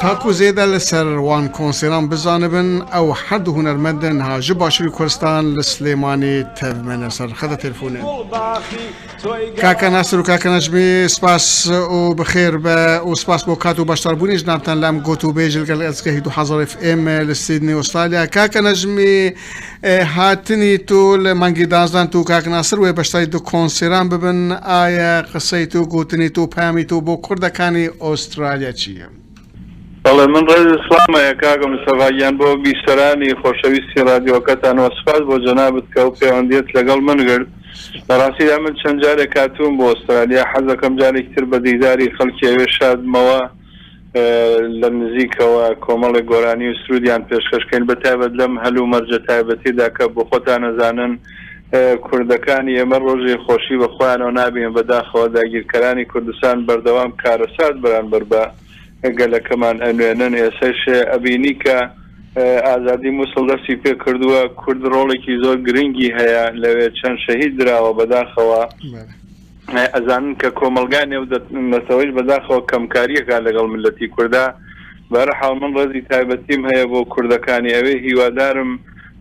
تاکو زێدە لە سەر وان کۆنسێران بزانبن ئەو هەر دوو هونەرمەندن ها ژ باشووری کورستان لە سلێمانی تەڤمەنە سەر خەتە تێلفونێن کاکە ناسر و کاکە نەژمی سپاس و بخێر بە و سپاس بۆ کات و بەشداربوونی ژنابتان لەم گوت و بێژل گەل ئەسکە 2000 ئێمە لە سیدنی ئوسترالیا کاکە نەژمی هاتنی تۆ لە مانگی دازدان تو کاک ناسر وێ بەشداری دو کۆنسێران ببن ئایا قسەی تۆ گوتنی تۆ پامی تۆ بۆ کوردەکانی ئۆسترالیا چیە؟ بەڵێ من ڕێز و سڵام هەیە کاکە مستەفا گیان بۆ بیسەرانی خۆشەویستی ڕادیۆکەتان وە سوپاس بۆ جەنابت کە ئەو پەیوەندیەت لەگەڵ من گرت لە ڕاستیدا من چەند جارێک هاتووم بۆ ئۆسترالیا حەزەکەم جارێکی تر بە دیداری خەڵکی ئەوێ شاد بمەوە لە نزیکەوە کۆمەڵێک گۆرانی و سرودیان پێشکەش کەین بە تایبەت لەم هەل و مەرجە تایبەتیدا کە بۆ خۆتان ئەزانن کوردەکانی ئێمە ڕۆژی خۆشی بە خۆیانەوە نابین بە داخەوە داگیرکەرانی کوردستان بەردەوام کارەسات بەرانبەر بە گەلەکەمان ئەنوێنن ئێسش ئەبینی کە ئازادی موسڵ دەستی پێ کردووە کورد ڕۆڵێکی زۆر گرنگی هەیە لەوێ چەند شەهید دراوە بەداخەوە ئەزانن کە کۆمەڵگای نێو نەتەوەیش بەداخەوە کەمکاری ئەکات لەگەڵ میللەتی کوردا، بەهەرحاڵ من ڕێزی تایبەتیم هەیە بۆ کوردەکانی ئەوێ، هیوادارم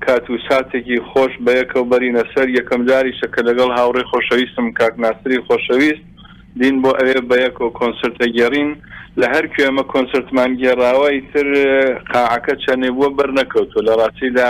کات و ساتێکی خۆش بەیەکەوە بەرینە سەر، یەکەم جاریشە کە لەگەڵ هاوڕێی خۆشەویستم کاک ناسری خۆشەویست دین بۆ ئەوێ بەیەکەوە کۆنسرت ئەگێڕین، لە هەرکوێ ئەمە کۆنسرتمان گێڕاوە ئیتر قاعەکە چەنێ بووە بەرنەکەوتووە، لە ڕاستیدا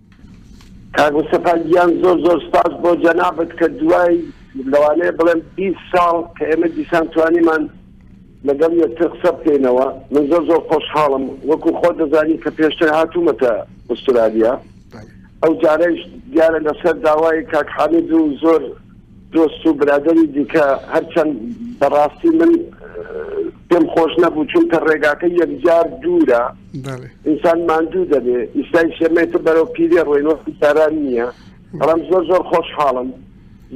کاک مستەفا گیان زۆر زۆر سپاس بۆ جەنابت کە دوای لەوانەیە بڵێم بیست ساڵ کە ئێمە دیسان توانیمان لەگەڵ یەکتر قسە بکەینەوە من زۆر زۆر خۆشحاڵم وەکو خۆ دەزانی کە پێشتر هاتوومەتە ئوسترالیا ئەو جارەش دیارە لەسەر داوای کاک حامید و زۆر دۆست و برادەری دیکە هەرچەند بەڕاستی من پێم خۆش نەبوو چونکە ڕێگاکە یەکجار دوورە ئینسان ماندوو دەبێ ئیستای شێمەی تر بەرەو پیرێ ڕۆینۆسی ساران نییە بەڵام زۆر زۆر خۆشحاڵم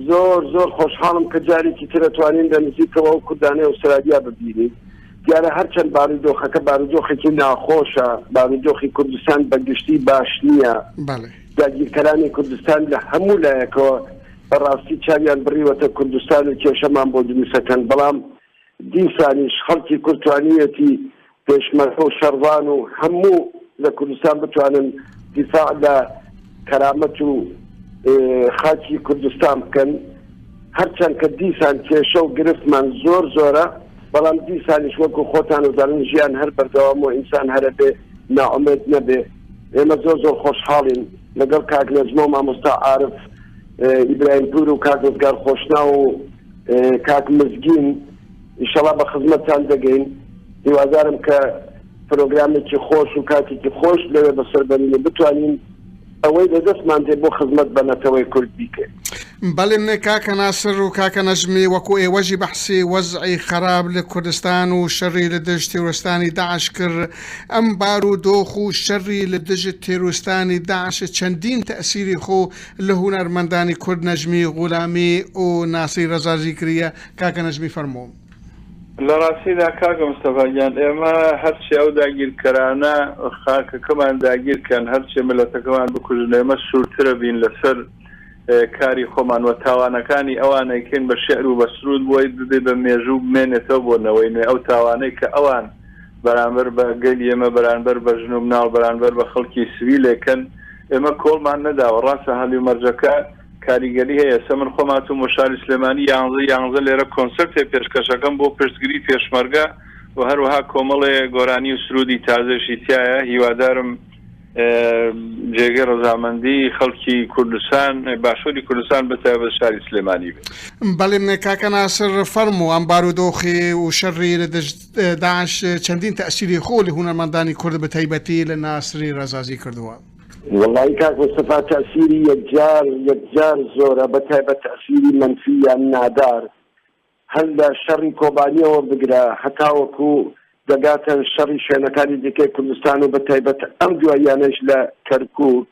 زۆر زۆر خۆشحاڵم کە جارێکی ترەتوانین لە نزیکەوە و کوردانەی ئوسترالیا ببینین دیارە هەرچەند بارودۆخەکە بارودۆخێکی ناخۆشە، بارودۆخی کوردستان بە گشتی باش نییە، داگیرکەرانی کوردستان لە هەموو لایەکەوە بە ڕاستی چاویان بڕیوەتە کوردستان و کێشەمان بۆ دروستەکەن، بەڵام دیسانیش خەڵکی کورد توانیویەتی پێشمەرگە و شەڕڤان و هەموو لە کوردستان بتوانن دیفاع لە کەرامەت و خاکی کوردستان بکەن، هەرچەند کە دیسان کێشە و گرفتمان زۆر زۆرە. بەڵام دیسانیش وەکو خۆتان و دەڵێن ژیان هەر بەردەوامە و ئینسان هەرە بێ نائومێد نەبێ ئێمە زۆر زۆر خۆشحاڵین لەگەڵ کاک نەجمە و مامۆستا عارف ئیبراهیم پور و کاک ڕزگار خۆشنا و کاک مزگین ئیشەڵا بە خزمەتتان دەگەین هیوادارم کە پرۆگرامێکی خۆش و کاتێکی خۆش لەوێ بەسەر بەرین و بتوانین ئەوەی لە دەستمان دێ بۆ خزمەت بە نەتەوەی کورد بیکەین. بەڵێ کاکە ناسر و کاکە نەجمی وەکو ئێوەشی بەحسی وەزعی خەراپ لە کوردستان و شەری لە دژ تێرۆرستانی داعش کرد ئەم بار و دۆخ و شەری لە دژ تێرۆرستانی داعش چەندین تەئسیری خۆ لە هونەرمەندانی کورد نەجمی غولامی و ناسری رەزازی کریە کاکە نەجمی فەرموو. لەڕاستیدا کاکە مستەفا گیان ئێمە هەرچی ئەو داگیرکەرانە خاکەکەمان داگیرکەن هەرچی ملەتەکەمان بکوژن ئێمە سورترە بین لەسەر کاری خۆمان وە تاوانەکانی ئەوانەیکەین بە شعر و بە سرود بۆی ببێ بە مێژوو بمێنێتەوە بۆ نەوەی نوێ ئەو تاوانەی کە ئەوان بەرامبەر بە گەلی ئێمە بەرانبەر بە ژن و مناڵ بەرانبەر بە خەڵکی سڤیل ئەیکەن ئێمە کۆڵمان نەداوە ڕاستە هەلومەرجەکە کاریگەری هەیە سە من خۆم هاتووم بۆ شاری سلێمانی یانزە یانزە لێرە کۆنسرتێ پێشکەشەکەم بۆ پشتگری پێشمەرگە و هەروەها کۆمەڵێ گۆرانی و سرودی تازەشی تایە هیوادارم جێگەی ڕزامەندی خەڵکی کوردستان باشووری کوردستان بەتای بە شاری سلێمانی بێت بەڵێم کاکە ناسر فەرم و ئەم بارودۆخی و شەڕی لە داش چەندین تەسیری خۆ لە هونەرمەندانی کورد بە تایبەتی لە ناسری ڕزازی کردووە وەڵایی کاک مستەفا تەئسیری یەکجار یەکجار زۆرە بەتایبەت تەئسیری مەنفی یان نادار هەر لە شەڕی کۆبانیەوە بگرە هەتاوەکو دەگاتە شەڕی شوێنەکانی دیکەی کوردستان و بەتایبەت ئەم دواییانەش لە کەرکوک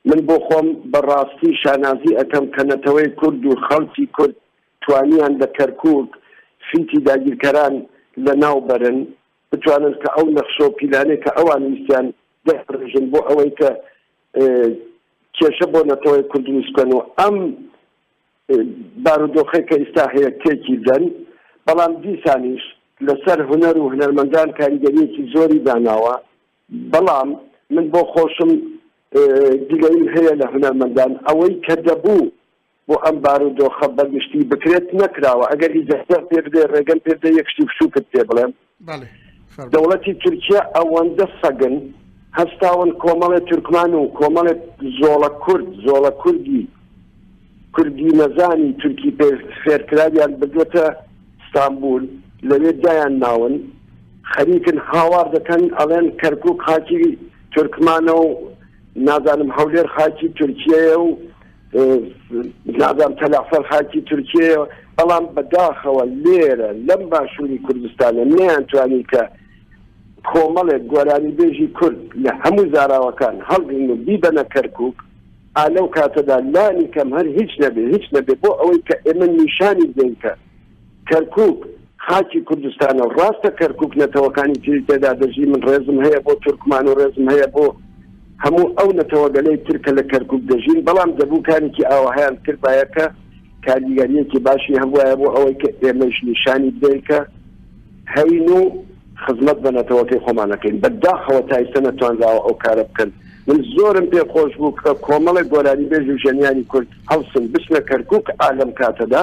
من بۆ خۆم بەڕاستی شانازی ئەکەم کە نەتەوەی کورد و خەڵکی کورد توانیان لە کەرکوک فیتی داگیرکەران لەناو بەرن بتوانن کە ئەو نەخشە و پیلانەی کە ئەوان ویستیان دابڕێژن بۆ ئەوەی کە کێشە بۆ نەتەوەی کورد دروست بکەن و ئەم بارودۆخەی کە ئیستا هەیە تێکی بدەن بەڵام دیسانیش لەسەر هونەر و هونەرمەندان کاریگەریەکی زۆری داناوە بەڵام من بۆ خۆشم دیلەیم هەیە لە هونەرمەندان ئەوەی کە دەبوو بۆ ئەم بارودۆخە بەگشتی بکرێت نەکراوە ئەگەر ئیجازەم پێ بدەی ڕێگەم پێ بدەی یەک شتی بچووکت پێ بڵێم بەڵێ فەرموو دەوڵەتی تورکیا ئەوەندە سەگن هەستاون کۆمەڵێ تورکمان و کۆمەڵێ زۆڵە کورد زۆڵە کوردی کوردی نەزانی تورکی پێ فێرکراویان بردووەتە ستانبول لەوێ دایان ناون خەریکن هاوار دەکەن ئەڵێن کەرکوک خاکی تورکمانە و نازانم هەولێر خاکی تورکیەیە و نازانم تەلەعفەر خاکی تورکیەیە بەڵام بەداخەوە لێرە لەم باشووری کوردستانە نەیانتوانی کە کۆمەڵێک گۆرانی بێژی کورد لە هەموو زاراوەکان هەڵگرن و بیبەنە کەرکک ئالە و کاتەدا لانی کەم هەر هیچ نەبێ هیچ نەبێ بۆ ئەوەی کە ئێمە نیشانی دەینکە کەرکوک خاکی کوردستانە و ڕاستە کەرکوک نەتەوەکانی تری تێدا دەژی من ڕێزم هەیە بۆ تورکمان و ڕێزم هەیە بۆ هەموو ئەو نەتەوەگەلەی تر کە لە کەرکوک دەژین بەڵام دەبوو کارێکی ئاوەهایان بکردبایە کە کاریگەریەکی باشی هەبوایە بۆ ئەوەی کە ئێمەش نیشانی بدەین کە هەین و خزمەت بە نەتەوەکەی خۆمانەکەین بەداخەوە تا ئیستا نەتوانراوە ئەو کارە بکەن من زۆرم پێ خۆش بوو کە کۆمەڵێک گۆرانی بێژ و ژەنیانی کورد هەڵسن بچنە کەرکک ئالم کاتەدا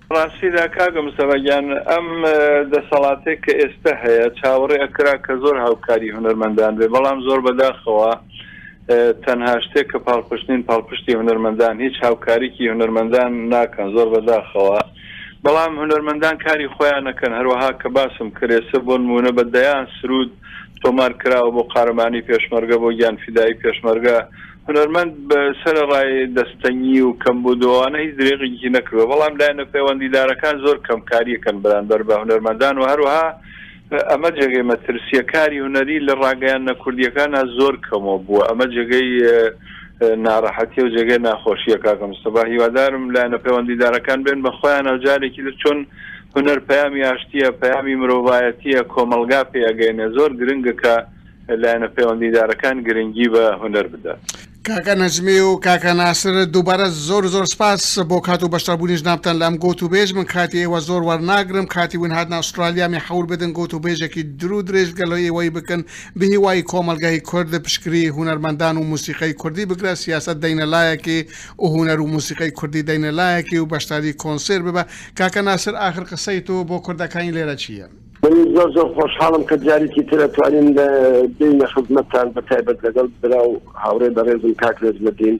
ڕاستیدا کاکە مستەفا گیان ئەم دەسەڵاتەی کە ئێستە هەیە چاوەڕێ ئەکرا کە زۆر هاوکاری هونەرمەندان بێ بەڵام زۆر بەداخەوە تەنها شتێک کە پاڵپشتین پاڵپشتی هونەرمەندان هیچ هاوکاریکی هونەرمەندان ناکەن زۆر بەداخەوە بەڵام هونەرمەندان کاری خۆیان نەکەن هەروەها کە باسم کرێسە بۆ نمونە بە دەیان سرود تۆمار کراوە بۆ قارەمانی پێشمەرگە بۆ گیان فیدایی پێشمەرگە هونەرمەند بە سەرەڕای دەستەنگی و کەمبوود و ئەوانە هیچ درێغێکی نەکردووە، بەڵام لایەنە پەیوەندیدارەکان زۆر کەمکارییەکەن بەرانبەر بە هونەرمەندان و هەروەها ئەمە جێگەی مەترسییە کاری هونەری لە ڕاگەیاندنە کوردییەکانا زۆر کەمەوە بووە ئەمە جێگەی ناڕەحەتییە و جێگەی ناخۆشییە کاکە مستەفا هیوادارم لایەنە پەیوەندیدارەکان بێن بە خۆیان و جارێکی تر چۆن هونەر پەیامی ئاشتییە پەیامی مرۆڤایەتییە کۆمەڵگا پێ ئەگەینێ زۆر گرنگە کە لایەنە پەیوەندیدارەکان گرنگی بە هونەر بدات. کاکە نەجمی و کاکە ناسر دووبارە زۆر زۆر سپاس بۆ کات و بەشداربوونی جنابتان لەم گوت و بێژ من کاتی ئێوە زۆر وەرناگرم کاتی ون هاتنە ئوسترالیا مێ حەول بدن گوت و بێژێکی درو درێژ گەلۆ ئێوەی بکن بهیوای کۆمەڵگای کورد پشکری هونەرمەندان و موسیقای کوردی بگرە سیاسەت دەینە لایەکی و هونەر و موسیقای کوردی دەینە لایەکی و بەشداری کۆنسێر ببە کاکە ناسر ئاخر قسەی تۆ بۆ کوردەکانی لێرە چییە؟ منیش زۆر زۆر خۆشحاڵم کە جاریکی تر ئەتوانین لە بینە خزمەتتان بە تایبەت لەگەڵ برا و هاوڕێ بە ڕێزم کاک رێز لە دین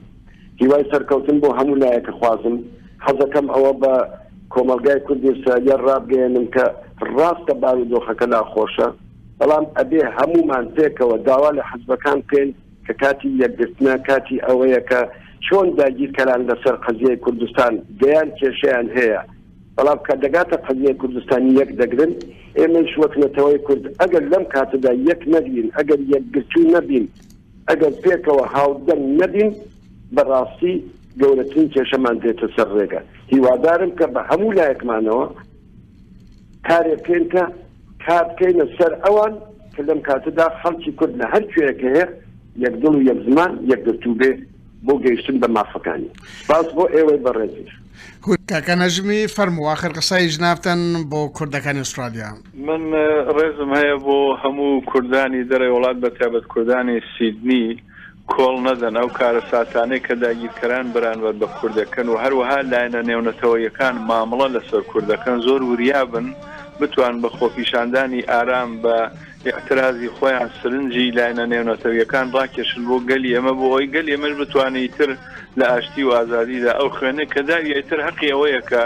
هیوای سەرکەوتن بۆ هەموو لایەکە خوازم حەزەکەم ئەوە بە کۆمەلگای کوردی ئیسرائیل ڕابگەێنم کە ڕاستە باوی دۆخەکە ناخۆشە بەڵام ئەبێ هەمومان پێکەوە داوا لە حزبەکان بکەین کە کاتی یەکگرتنە کاتی ئەوەیە کە چۆن داگیرکەران لەسەر قەزیەی کوردستان دەیان کێشیان هەیە بەڵام کە دەگاتە قەزیەی کوردستان یەک دەگرن، ئێمەیش وەک نەتەوەی کورد ئەگەر لەم کاتەدا یەک نەگرین، ئەگەر یەکگرتوو نەبین، ئەگەر پێکەوە هاودەنگ نەبین، بە ڕاستی گەورەترین کێشەمان دێتە سەر ڕێگە. هیوادارم کە بە هەموو لایەکمانەوە کارێک بکەین کە کار بکەینە سەر ئەوان کە لەم کاتەدا خەڵکی کورد لە هەر کوێیەک هەیە یەک دڵ و یەک زمان، یەکگرتوو بێ بۆ گەیشتن بە مافەکانی. سپاس بۆ ئێوەی بەڕێزیش. گوت، کاکە نەجمی فەرموو ئاخر قسەی جنابتان بۆ کوردەکانی ئوسترالیا. من ڕێزم هەیە بۆ هەموو کوردانی دەرەی وڵات بە تایبەت کوردانی سیدنی، کۆڵ نەدەن ئەو کارەساتانەی کە داگیرکەران بەرانبەر بە کورد دەکەن و هەروەها لایەنە نێونەتەوەییەکان مامڵە لەسەر کورد دەکەن زۆر وریا بن بتوان بە خۆپیشاندانی ئارام بە ئیعترازی خۆیان سرنجی لایەنە نێونەتەوییەکان ڕاکێشن بۆ گەلی ئێمە بۆ ئەوەی گەلی ئێمەش بتوانێ ئیتر لە ئاشتی و ئازادیدا ئەو خوێنەی کە داویە ئیتر هەقی ئەوەیە کە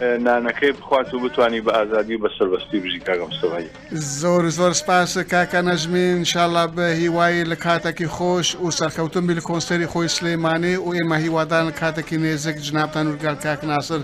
نانەکەی بخوات و بتوانی بە ئازادی و بە سەربەستی بژی کاک مستەفا گیان. زۆر زۆر سپاس کاکە نەجمی ان شاء اللە بە هیوای لە کاتەکی خۆش ئوو سەرکەوتن بی لە کۆنسێری خۆی سلیمانی ئوو ئێمە هیوادارن کاتەکی نێزێک جنابتان ئوو لەگەل کاک ناسر